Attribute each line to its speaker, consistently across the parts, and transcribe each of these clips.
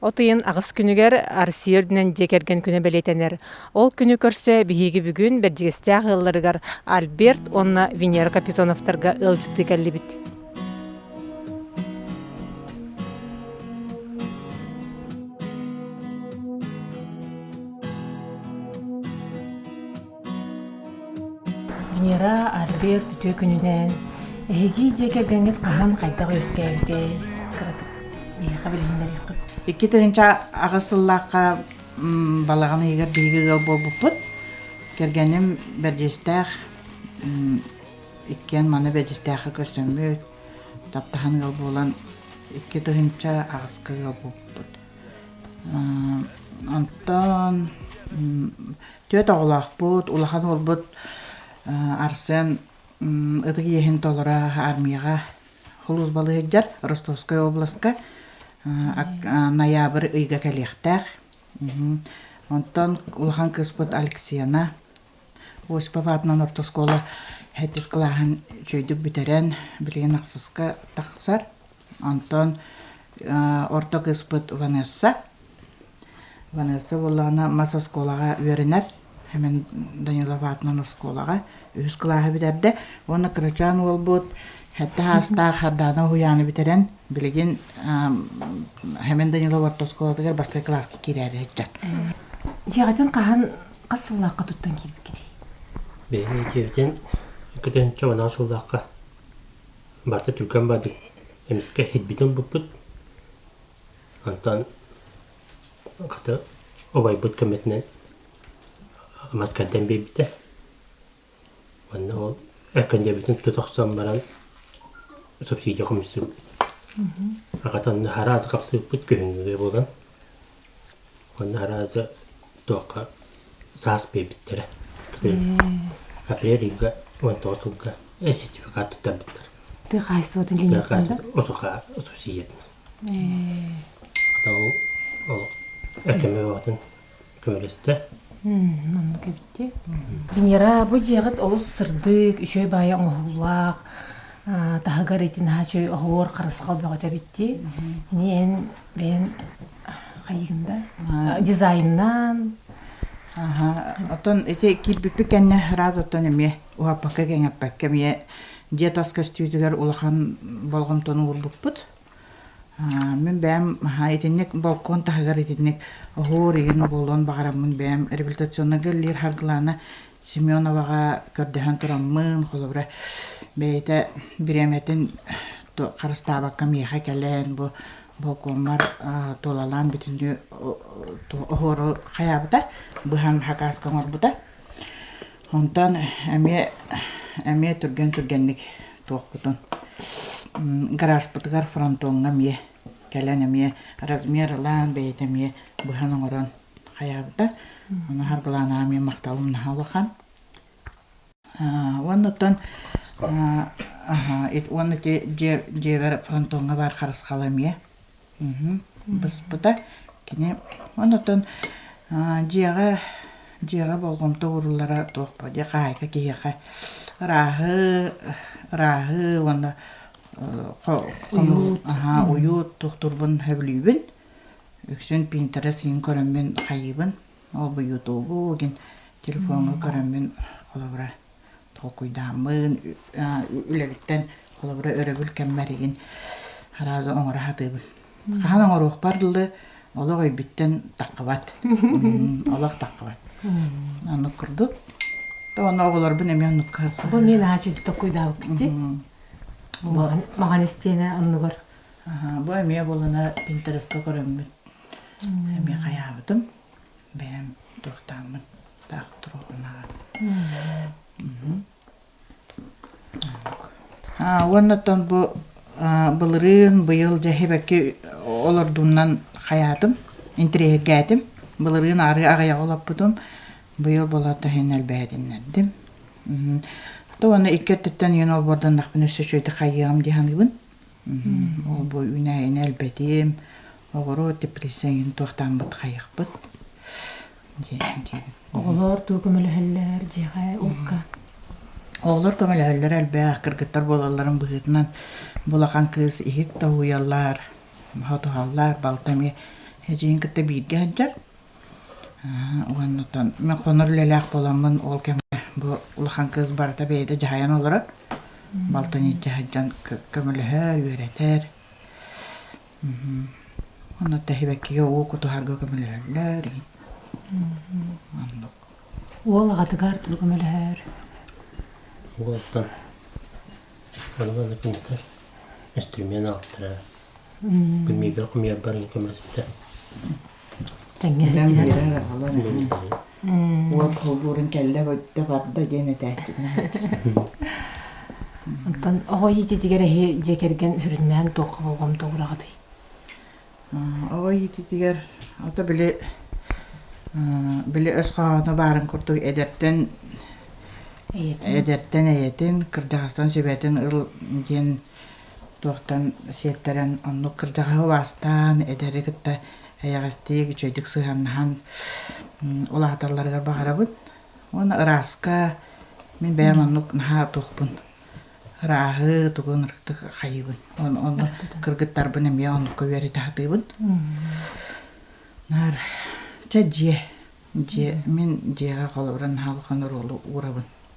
Speaker 1: От ыйын аҕыс күнүгэр Арсия үрдүнэн дьиэ кэргэн күнэ бэлиэтэнэр. Ол күнү көрсө биһиги бүгүн Бэрдьигэстээх ыалларыгар Альберт уонна Венера Капитоновтарга ыалдьыттыы кэллибит. Венера, Альберт үтүө күнүнэн эһиги дьиэ кэргэҥҥит хаһан хайдах үөскээбитэй? Миэхэ билиһиннэриэххит. Икки тыһыынча
Speaker 2: аҕыс сыллаахха балаҕан ыйыгар биһиги ыал буолбуппут. Кэргэним бэрдьиэстээх, иккиэн маны бэрдьиэстээххэ көрсөммүт, таптаһан ыал буолан икки тыһыынча аҕыска ыал буолбуппут. Онтон Түөрт оҕолоохпут, улахан уолбут Арсен ытык иэһин толоро аармыйаҕа хулуусбалыы сылдьар Ростовскай областка ноябрь ыйга кэлиэхтээх. Онтон улахан кыыспыт Алексена Осипова аатынан орто оскуола ХЭТИС кылааһын үчүгэйдик бүтэрэн, билигин ахсыска тахсар. Онтон орто кыыспыт Ванесса. Ванесса буоллаҕына мас оскуолаҕа үөрэнэр. Хэмин Данилов аатынан оскуолаҕа үһүс кылааһы бүтэрдэ. Уонна кырачаан уолбут Хэтэ Хаастаах Хардаана уһуйааны бүтэрэн, билигин Хэмин Данилов орто оскуолатыгар бастакы кылааска киирээри сылдьар. Дьиэҕитин
Speaker 1: хаһан хас сыллаахха туттан киирбиккитий? Биһиги
Speaker 3: киирдин, көтөнчө уонаа сыллаахха барыта түргэн бардык эмискэ һирбитин ылбыппыт онтон хата убайбыт көмөтүнэн мас кэрдэн биэрбитэ уонна ол эркэндэбитин тута охсон баран субсидия хомуйсубут хата онно араас хапсыбыппыт күһүҥҥүгэ буолан Уонна араадьа туохха саас биэрбиттэрэ. Апрель ыйга уон тоҕус сылга сертификат туттарбыттар. Тыа хаһайыстыбатын
Speaker 1: линияттан Осука ассоциациятынан.
Speaker 3: Хата ол этими баҕатын көмөлөстө. Манна
Speaker 1: кэбиттэ. Венера бу дьиэҕит олус сырдык, үчүгэй баайа оҥоһуллаах, таһыгар ити наһаа үчүгэй оһуор харысхал бөҕөтө бүттэ. Ини эн бэйэн дизайннаан
Speaker 2: оттон ити киирбиппит кэннэ ыраас оттон эмиэ уһаппакка кэҥэппэккэ эмиэ дьиэ тас көстүүтүгэр улахан болҕомтону уурбуппут мин бэйэм итинник балкон таһыгар итинник оһуор игин буолуон баҕараммын бэйэм реабилитационнайга иллиир харгылаана Семеноваҕа көрдөһөн тураммын, холобура, бэйэтэ бириэмэтин харыстаабакка миэхэ кэлэн бу волкоммар туолалаан бүтүннүү оһуору хайаабыта, быһан хакааска оҥорбута. Онтон эмиэ эмиэ түргэн-түргэнник туохпутун гаражпытыгар фронтоҥҥа эмиэ Кэлэн эмиэ размер ылан, бэйэтэ эмиэ быһан оҥорон хайаабыта. Ону харгылаана эмиэ махталым наһаа улахан. Уоннуттан уонна дьиэбэр фронтоҥҥа баар харысхал эмиэ быспыта. Кини уоннуттан дьиэҕэ дьиэҕэ болҕомто ууруллара туох буолуой хаһаайка киһиэхэ ырааһы ырааһы уонна хомуурут аһаа уйут тухтурбун сөбүлүүбүн үксүн пинтере син көрөммүн хайыыбын ол буйутуубу гин телефоҥҥа көрөммүн холобура толкуйдааммын, үлэбиттэн холобура өрөбүл кэммэр игин араазы оҥоро сатыыбын. Хаһан оҥоруохпар дылы олох өйбүттэн таххыбат. Олох таххыбат. Оннук курдук. Онно оҕолорбун эмиэ оннукка харсабын. Бу мен аачыйдык
Speaker 1: толкуйдаабыккыт дии. Маған истиэнэ оннугар. Бу эмиэ
Speaker 2: буолана Пинтереста көрөммүт. Эмиэ хайаабытым. бэйэм туохтаахмын таах туруохунааҕар уонна оттон бу былырыын быйыл дьэһибэкки олордуумнан хайаатым интириэһиргээтим былырыын арыы аҕыйаҕа олоппутум быйыл болото иһин элбээтиннэрдим то уонна икки өттүттэн ийэн олбуорданнахпына өссө үчүгэйдик хайыаҕым дии саныыбын Ол бу үүнээйини элбэтим, оҕуруот депрессияны туохтааммыт хайыахпыт
Speaker 1: Оҕолор дуу көмөлөһөллөр дьиэҕэ уокка? Оҕолор
Speaker 2: көмөлөһөллөр элбэх, кыргыттар буолалларын быһыытынан бу улахан кыыс иһит тоһуйаллар, ботуһаллар, балта эмиэ эдьиийин кытта бииргэ сылдьар. Уоннуттан мен хонор үлэлээх буоламмын ол кэмҥэ бу улахан кыыс барыта бэйэтэ дьаһайан олорор. Балтын илдьэ сылдьан көмөлөһөр, үөрэтэр. Оннуттан сибэккигэ уу кутуһарга көмөлөһөллөр. Оннук. Уол аҕатыгар
Speaker 1: тугу көмөлөһөр?
Speaker 3: Уолтан Иван Кнутов инструмент ааптара. Бу миигин хомуйарбар көмөлөспүтэ.
Speaker 1: тэҥҥэ биэрэр
Speaker 2: аҕалар уот булбуурун кэллэ өттө барда диэн этээччинэн
Speaker 1: Онтон оҕо иититигэр эһи дьиэ кэргэн сүрүннээн туохха болҕомто угураҕытый?
Speaker 2: Оҕо иититигэр ото били били өс хоһооно баарын курдук эдэртэн эдэртэн эйэтин кырдьаҕастан сүбэтин ыл диэн туохтан сиэттэрэн оннук кырдьаҕаһы убаастаан эдэри кытта эйэҕэстик үчүгэйдик сыһыаннаһан ол ааталларыгар баҕарабын уонна ырааска мин бэйэм оннук наһаа туохпун ырааһы тугун ырыктык хайыыбын ону кыргыттарбын эмиэ оннукка үөрэтэ сатыыбын наар чэ дьиэ дьиэ мин дьиэҕэ холобура наһаа улахан оруолу уурабын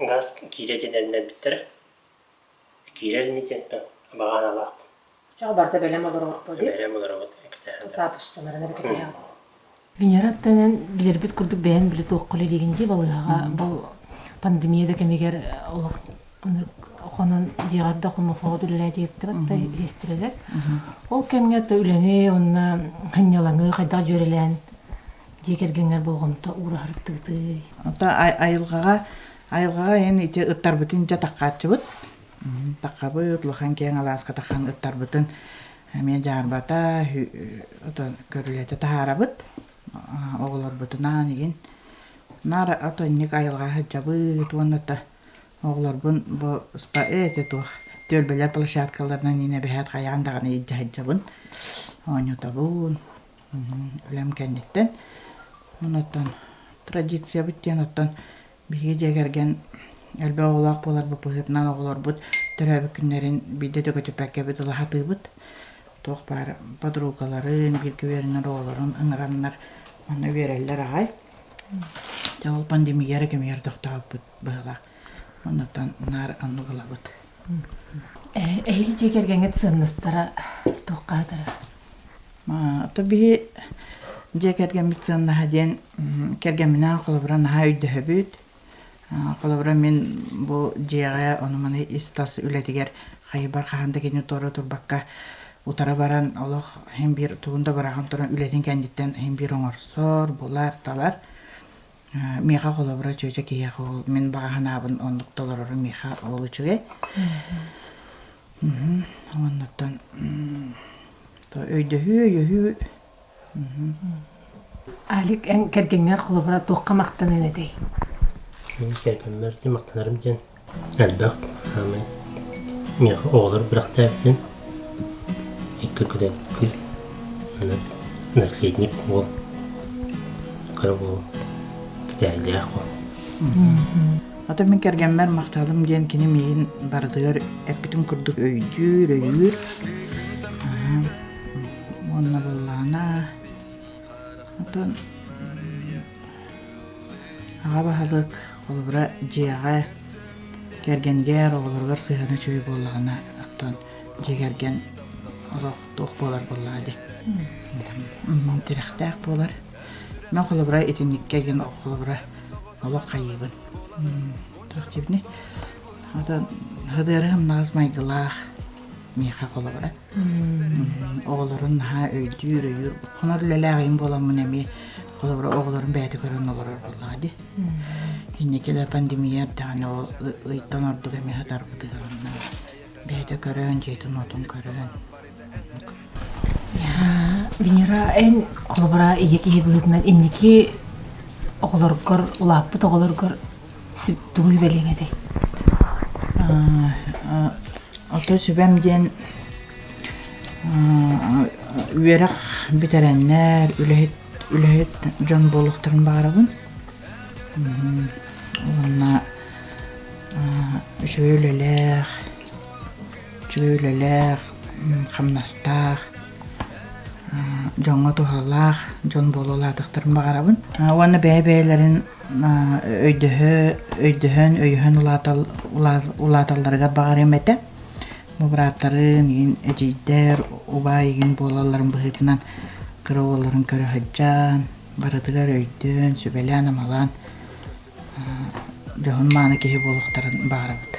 Speaker 3: газ киирэ диэн эрэннэрбиттэрэ. Киирэр ини диэнтэн баҕаан алаахпын. Чаҕы барда бэлэм
Speaker 1: олороҕор дип. Бэлэм олоробут эктэһэн.
Speaker 3: Саапусталарына
Speaker 1: бүтэһэҕин. Венера тэнэн билэрбит курдук бэйэн били туохха үлэлиигин дии балыыһаҕа бұл пандемия да кэмигэр олох хонон дьиэҕэр да хомофоҕут үлэлээтигиттибэт да иһистирэлэр. Ол кэмҥэ то үлэни онна хынньалаҥы хайдах дьүөрэлээн дьиэ кэргэҥҥэр болҕомто уураһартыытый
Speaker 2: айылҕаҕа айылҕаҕа эн ити ыттарбытын дьэ таххааччыбыт таххабыт улахан киэҥ алааска таххан ыттарбытын эмиэ дьаарбата көрүлэтэ таһаарабыт оҕолорбутунаан игин наар отонньук айылҕа сылдьабыт уонна та оҕолорбун бу спа эти туох түөлбэлэр площадкаларынан инэ бэһээт хайаан даҕаны илдьэ сылдьабын оонньотобун үлэм кэнниттэн. Онуттан традициябыт диэн оттон биһиги дьиэ кэргэн элбэх оҕолоох буоларбыт быһыытынан оҕолорбут төрөөбүт күннэрин биирдэ дөгүтүпэккэбит ыла сатыыбыт. Туох баар подругаларын, бииргэ үөрэнэр оҕолорун ыҥыраннар манна үөрэллэр аҕай. Дьэ ол пандемияра кэмигэр тохтообут быһыылаах. Онуттан наар оннук ылабыт.
Speaker 1: Эһиги дьиэ кэргэҥҥит сыаннастара туохха хатарар?
Speaker 2: То биһи дьиэ кэргэммит сыаннаһа диэн кэргэмминээн холобура наһаа өйдөһөбүт. Холобура мин бу дьиэҕэ ону маны ис тас үлэтигэр хайбар хаһан да кинини туора турбакка утары баран олох иһин биир тугун да быраҕан туран үлэтин кэнниттэн иһин биир оҥорсор, булар, талар. миэхэ холобура чүөчэ киһиэхэ ол мин баҕа санаабын оннук толорору миэхэ ол үчүгэй оннуттан өйдөһүү өйөһүү
Speaker 1: Алик эн кэргэҥҥэр холобура туохха махтаныан этэй
Speaker 3: кэргэммэр махтанарым диэн Элбэх саамай миэхэ оҕолор бэлэхтээбитин икки күтэн кыыс манна наследник уол кыра уол кэтээһилээх уол
Speaker 2: Ата мин кэргэммэр махталым диэн кини миигин барытыгар эппитин курдук өйдүүр, өйүүр. Аһа. Уонна буоллаҕына атын аҕа баһылык Холобура, дьиэҕэ кэргэнгэ эр оҕолоругар сыһыана үчүгэй буоллаҕына, оттон дьиэ кэргэн олох туох буолар буоллаҕа дии. Онон тирэхтээх буолар. Мен холобура итинникке диэн холобура олох хайыыбын. Туох диибиний? Атын хадыары хымнаҕас майгылаах миэхэ холобура. оҕолорун наһаа өйдүүр өйүүр хонор үлэлээҕиҥ буоламмын эмиэ холобура оҕолорум бэйэтэ көрөн олорор буоллаҕа дии инникилэр пандемия эрдэҕинэ ол ыйтан ордук эмиэ сатарбытыгар бэйэтэ көрөн дьиэтин-уотун көрөн
Speaker 1: Венера эн холобура ийэ киһи быһыытынан инники оҕолоргор улааппыт оҕолоргор тугу сүбэлиэҥ этэй
Speaker 2: оттон сүбэм диэн үөрэх бүтэрэннэр үлэһит үлэһит дьон буолуохтарын баҕарабын уонна үчүгэй үлэлээх үчүгэй үлэлээх хамнастаах дьоҥҥо туһалаах дьон буола улаатыахтарын баҕарабын уонна бэйэ бэйэлэрин өйдөһө өйдөһөн өйөһөн улаатал улааталларыгар баҕарыам этэ бу бырааттарын иһин эдьиийдэр убаай игин буолалларын быһыытынан кыра уолларын көрө сылдьан барытыгар өйдөөн сүбэлээн амалаан дьоһун мааны киһи буолуохтарын баҕарабыт